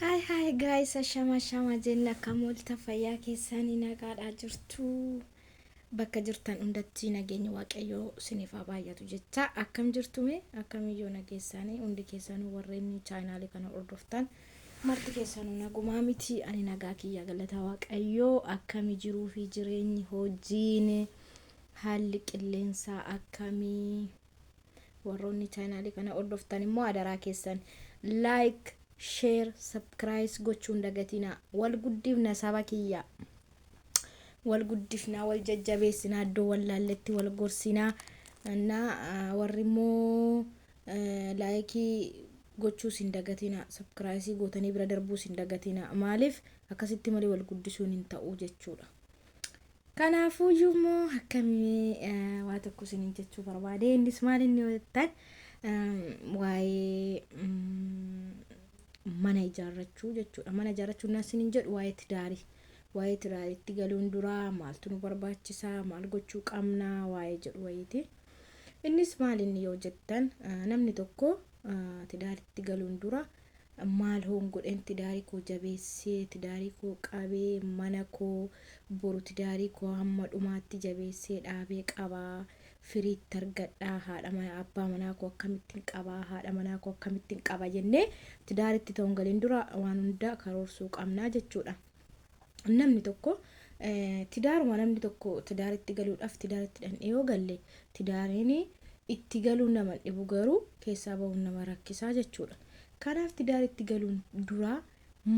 Hi hi guys ashama ashama jenna akkam ooltan fayyaa keessaanii nagaadhaa jirtuu bakka jirtan hundatti nageenyi waaqayyoo isiniif haa baay'atu jecha akkam jirtume akkamiyyoo nageessaanii hundi keessanuu warreen chaayinaalii kana hordoftan marti keessanuu nagumaa miti ani nagaa kiyya galata waaqayyoo akkami jiruu fi jireenyi hojiin haalli qilleensaa akkamii Warroonni chaanaalii kana hordoftan immoo adaraa keessan like, share, subscribe gochuun dagatinaa. Wal guddifna saba kiyya. Wal guddifnaa, wal jajjabeessinaa, iddoo wal laalletti wal gorsinaa. Annaa ah, warri immoo eh, laayikii gochuus hin dagatinaa. Subscribe gootanii bira darbuus hin dagatinaa. Maaliif akkasitti malee wal guddisuun hin ta'u jechuudha. Kanaafuuyyuu immoo akkami mee waa tokko isiniin jechuu barbaade innis maal inni yoo jettan waa'ee mana ijaarrachuu jechuudha mana ijaarrachuu naa isiniin jedhu waa'ee tidaarii waa'ee tidaariitti galuun duraa maaltu nu barbaachisa maal gochuu qabna waa'ee jedhu wayiiti innis maal inni yoo jettan namni tokko tidaaritti galuun dura maal hoon godhen tidaarii koo jabeessee tidaarii koo qabee mana koo boru tidaarii koo hamma dhumaatti jabeessee dhaabee qabaa firii itti argadhaa haadha mana abbaa manaa koo akkamittin qabaa haadha manaa koo akkamittin qaba jennee tidaaritti ta'uun galin dura waan hundaa karoorsuu qabnaa jechuudha. namni tokko tidaaruma namni tokko tidaaritti galuudhaaf tidaaritti dhandhe yoo galle tidaariin itti galuun nama dhibu garuu keessaa ba'uun nama rakkisaa jechuudha. Kanaaf tidaaritti galuun duraa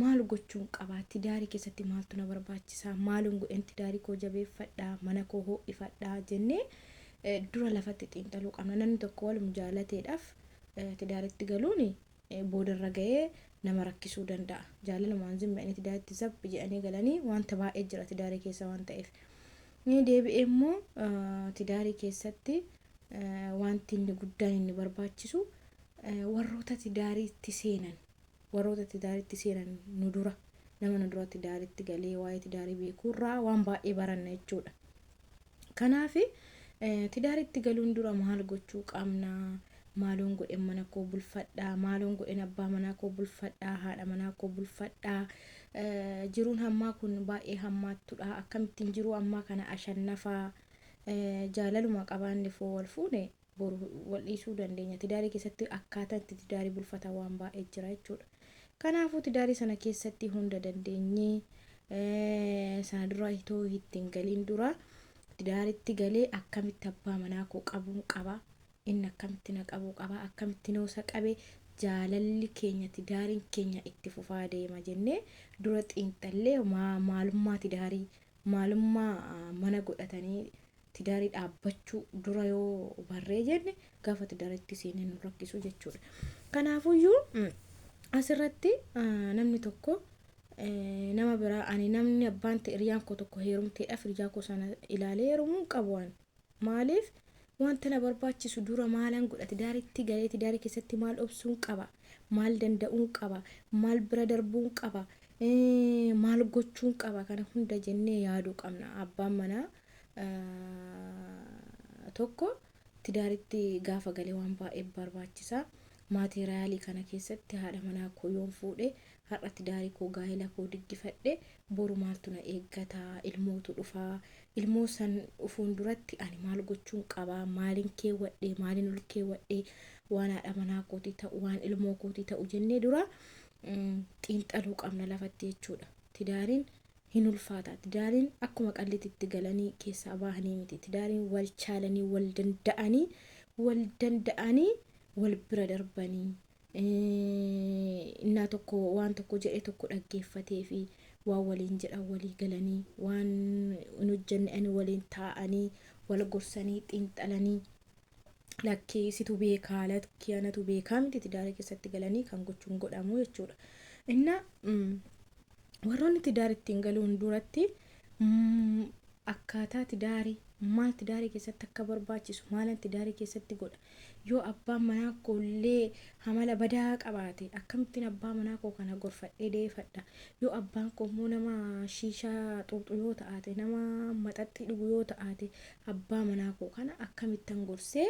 maal gochuun qabaa? Tidaarii keessatti maaltu na barbaachisaa? Maalun godheen tidaarii koo jabeeffadhaa? Mana koo ho'ifadhaa? jennee dura lafatti xiinxaluu qabna. Namni tokko walum jaalateedhaaf tidaaritti galuun booda irra ga'ee nama rakkisuu danda'a. Jaalalumaan zim jedhanii tidaaritti zab jedhanii galanii wanta baay'ee jira tidaarii keessa waan ta'eef. Inni deebi'ee immoo tidaarii keessatti wanti inni guddaan inni barbaachisu warroota tidaariitti seenan warroota tidaariitti seenan nu dura nama nu dura tidaariitti galee waa'ee tidaarii beekuurraa waan baay'ee baranna jechuudha. Kanaaf tidaaritti galuun dura maal gochuu qabna? Maaloon godhen mana koo bulfadhaa? Maaloon godhen abbaa manaa koo bulfadhaa? Haadha manaa koo bulfadhaa? Jiruun hammaa kun baay'ee hammaattudha. Akkamittiin jiruu ammaa kana ashannafaa? Jaalaluma qabaanne foo wal fuune boru wal dhiisuu dandeenya. Tidaarii keessatti akkaataa itti tidaarii bulfatan waan baay'ee jira jechuudha. Kanaafuu tidaarii sana keessatti hunda dandeenyee eh, sana dura itoo itti hin galiin dura tidaaritti galee akkamitti abbaa manaa koo qabuun qaba inni akkamitti na qabuu qaba akkamitti noosa qabe jaalalli keenya tidaariin keenya itti fufaa deema jennee dura xiinxallee maa- maalummaa tidaarii maalummaa ah, mana godhatanii Tidari dhaabbachu dura yoo barree jenne gaafa tidara itti seene nu rakkisu jechuudha. Kanaafuyyuu asirratti namni tokko nama biraa ani namni abbaan ta'e hiriyaan koo tokko heerumteedhaaf hiriyaa koo sana ilaalee heerumuun qabu ani. Maaliif wanta na barbaachisu dura maalan godha tidaaritti galee tidaari keessatti maal obsuun qaba maal danda'uun qaba maal bira darbuun qaba maal gochuun qaba kana hunda jennee yaaduu qabna abbaan manaa tokko tidaaritti gaafa gale waan baay'ee barbaachisa. Maateeriyaalii kana keessatti haadha manaa koo yoon fuudhe, har'a tidaarii koo gaa'ela koo diddifadhe boru maaltu na eeggata? Ilmootu dhufa. Ilmoo san dhufuun duratti ani maal gochuun qaba? Maalin keewwadhe? Maalin ol keewwadhe? Waan haadha manaa kootii ta'u, waan ilmoo kootii ta'u jennee dura xiinxaluu qabna lafatti jechuudha. Tidaariin hin ulfaata tidaariin akkuma qalliti itti galanii keessaa baahanii miti tidaariin wal chaalanii wal danda'anii wal danda'anii wal bira darbanii innaa tokko waan tokko jedhe tokko dhaggeeffatee fi waan waliin jedhan walii galanii waan hin hojjenne ani waliin taa'anii wal gorsanii xiinxalanii lakkii situ beekaa lakkii anatu beekaa miti tidaara keessatti galanii kan gochuun godhamu jechuudha. Innaa warroonni tidaar ittiin galuun duratti mm, akkaataa tidaarii maal tidaarii keessatti akka barbaachisu maalan tidaarii keessatti godha yoo abbaan manaa koollee hamala badaa qabaate akkamittiin abbaa manaa koo kana gorfadhee deefadha yoo abbaan koo immoo nama shiishaa xuuxu yoo ta'aate nama maxaxxii dhugu yoo ta'aate abbaa manaa koo kana akkamittan gorsee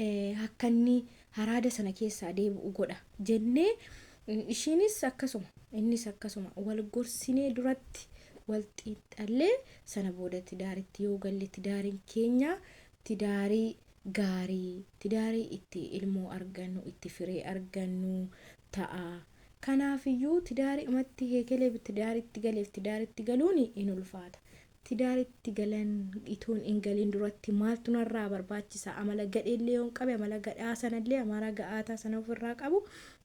eh, akka inni haraada sana keessaa deebi'u godha jennee Ishiinis akkasuma, innis akkasuma wal gorsinee duratti wal xiinxallee sana booda tidaaritti yoo galle tidaariin keenya tidaarii gaarii, tidaarii itti ilmoo argannu, itti firee argannu ta'a. Kanaafiyyuu tidaari'umatti heekelee tidaaritti galeef tidaaritti galuun in ulfaata. Tidaaritti galan ituun hin galiin duratti maaltu narraa barbaachisa? Amala gadheellee yoon qabe amala gadhaa sanallee amala ga'aataa sana ofirraa qabu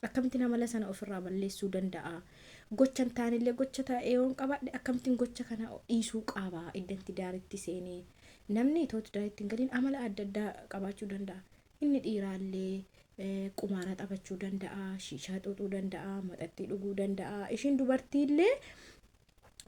akkamittiin amala sana ofirraa balleessuu danda'a? Gocha hin taanellee gocha ta'e yoon qabaadhe akkamittiin gocha kana dhiisuu qaba eddan tidaaritti seenee? Namni itoo tidaaritti hin galiin amala adda addaa qabaachuu danda'a. Inni dhiiraallee qumaara taphachuu danda'a, shiishaa xuuxuu danda'a, maxaxxii dhuguu danda'a. Ishiin dubartiillee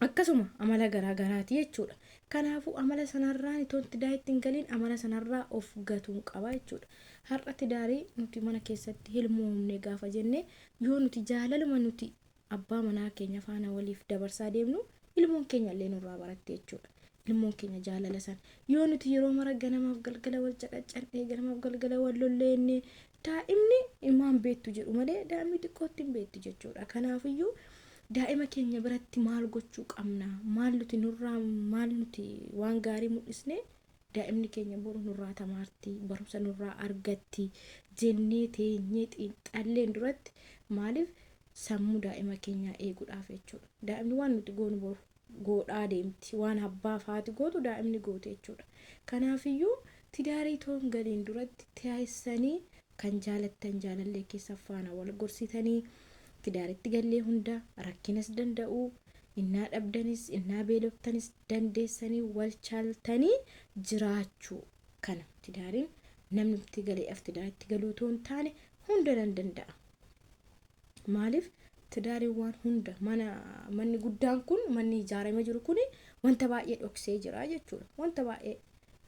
akkasuma amala garaa garaati jechuudha. Kanaafuu amala sanarraan itoon tidaaritti hin galiin amala sanarraa of gatuun qaba jechuudha. Har'a tidaarii nuti mana keessatti hilmoomne gaafa jenne yoo nuti jaalaluma nuti abbaa manaa keenya faana waliif dabarsaa deemnu ilmoon keenya illee nurraa baratti jechuudha. Ilmoon keenya jaalala san yoo nuti yeroo mara ganamaaf galgala wal caqacannee ganamaaf galgala wal lolleenne Daa'imni imaan beektu jedhu malee daa'imni xiqqootti hin beekti jechuudha. Kanaafiyyuu daa'ima keenya biratti maal gochuu qabna? Maal nuti nurraa maal nuti waan gaarii mul'isne daa'imni keenya boru nurraa tamaarti, barumsa nurraa argatti jennee teenyee xiinxalleen duratti maaliif sammuu daa'ima keenyaa eeguudhaaf jechuudha. Daa'imni waan nuti goonu boru goodhaa deemti waan abbaaf haati gootu daa'imni gooti jechuudha kanaafiyyuu tidaara itoo hin galiin duratti teessanii kan jaalattan jaalallee keessan faana wal gorsitanii tidaaritti gallee hunda rakkinas danda'uu innaa dhabdanis innaa beeloftanis dandeessanii wal chaaltanii jiraachuu kana tidaariin namnumti galeedhaaf tidaaritti galuu itoo hin taane hunda nan danda'a Maaliif tidaariin waan hunda mana manni guddaan kun manni ijaaramee jiru kun wanta baay'ee dhoksee jira jechuudha. Wanta baay'ee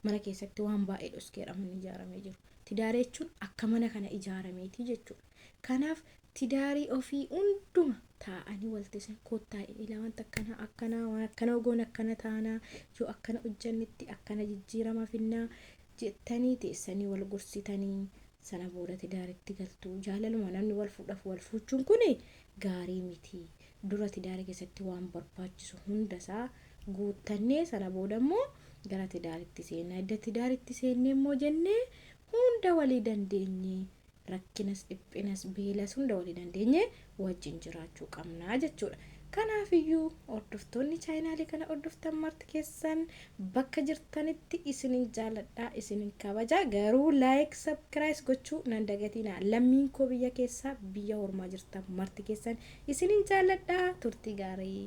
mana keessatti waan baay'ee dhoskeedha manni ijaaramee jiru. Tidaarii jechuun akka mana kana ijaarameeti jechuudha. Kanaaf tidaarii ofii hunduma taa'anii waltisa kottaa ilaa wanta akkana akkana waan akkana ogoon akkana taanaa yoo akkana hojjannetti akkana jijjiirama finnaa jettanii teessanii wal gorsitanii sana booda tidaaritti galtu jaalaluma namni wal fuudhaf wal fuuchuun kun gaarii miti dura tidaara keessatti waan barbaachisu hunda isaa guuttannee sana booda immoo gara tidaaritti seenna edda tidaaritti seennee immoo jennee hunda walii dandeenye rakkinas dhiphinas beelas hunda walii dandeenye wajjin jiraachuu qabna jechuudha. Kanaaf iyyuu hordoftoonni chaayinaalii kana hordoftan marti keessan bakka jirtanitti isinin jaaladhaa isinin kabajaa garuu like subscribe gochuu nan dagatiinaa lammiin koo biyya keessaa biyya hormaa jirtan marti keessan isinin jaaladhaa turtii gaarii.